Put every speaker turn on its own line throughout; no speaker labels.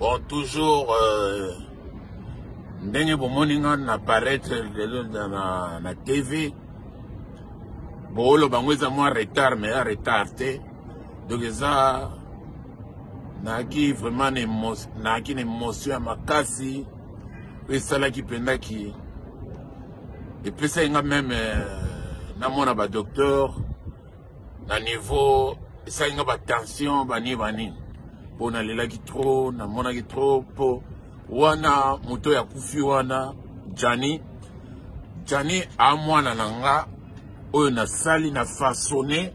bon toujours euh, ndenge bomoni nga na paraître lelo na, na tv booloba yango eza mwa retard mais ya retard te donc eza nayaki vraiment nayaki na émotion ya makasi oyo esalaki mpenza ki epesaki nga meme euh, namona badocteur na niveau esali nga batension bani bani mpo nalelaki trop namonaki trop mpo wana moto oyo akufi wana jani jani amwana na nga oyo nasali na fasone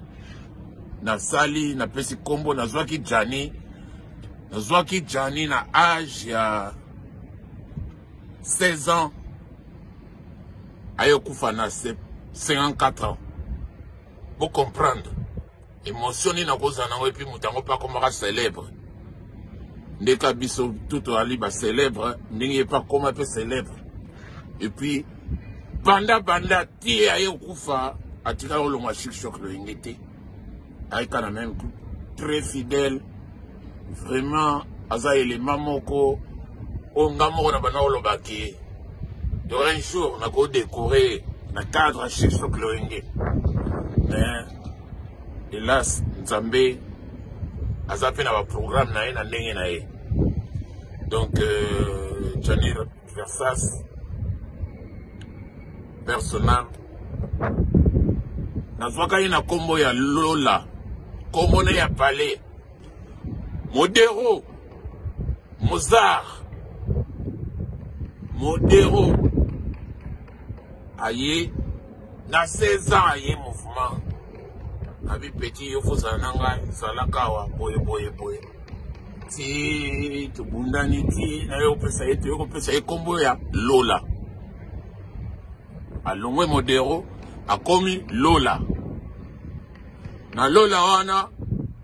nasali napesi nkombo nazwaki jani nazwaki jani na age ya 16 ans aye okufa na 54 ans Bo comprendre. Emotion nini akozala nango epuis moto yango mpe akomaka célèbre. Nde ka biso tout toyali ba célèbre ndenge ye mpe akoma mpe célèbre. Epuis banda banda ti aye okufa atikala olongwa chic choc loyenge te. Ayika na même très fidèle vraiment aza elema moko oyo nga moko na banda oloba ke yora un jour nakodekore na cadre ya shikso cloenge mais hélas nzambe aza mpe na baprogramme na ye na ndenge na ye donc euh, janir Versace personnel nazwaka ye na nkombo ya lola nkombo na ya palais modero mozar modero aye na 16 ans aye mouvement abi petit yo fozala na ngai zalaka awa boye boye boye ti tobundani ti naye opesa ye toye kopesa ye nkombo ya lola alongwe modero akomi lola na lola wana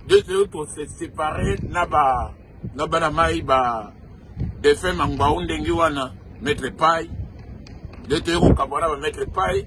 nde toyei kosesepare na ba na bana mai ba defunt mangbau ndenge wana maître pai nde toyei kokabwana ba maître pai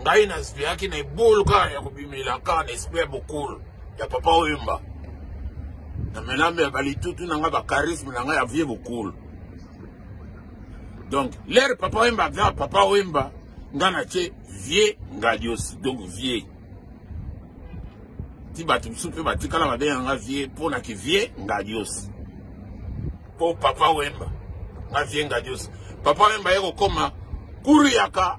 ngai naspeyaki na ebulu kaka ya kobimela kaka na esprit ya bokolo ya papa oyemba na melame ya balitutu na ngai bacharisme na ngai ya vie bokolo donc lere papa oyemba aza papa oyemba ngai natye vie ngadios donc vie ti bato mosusu mpe batikala babenga nga vie mpo na kivie ngadios mpo papa wemba nga vie ngadios papa wemba ye kokoma kuruyaka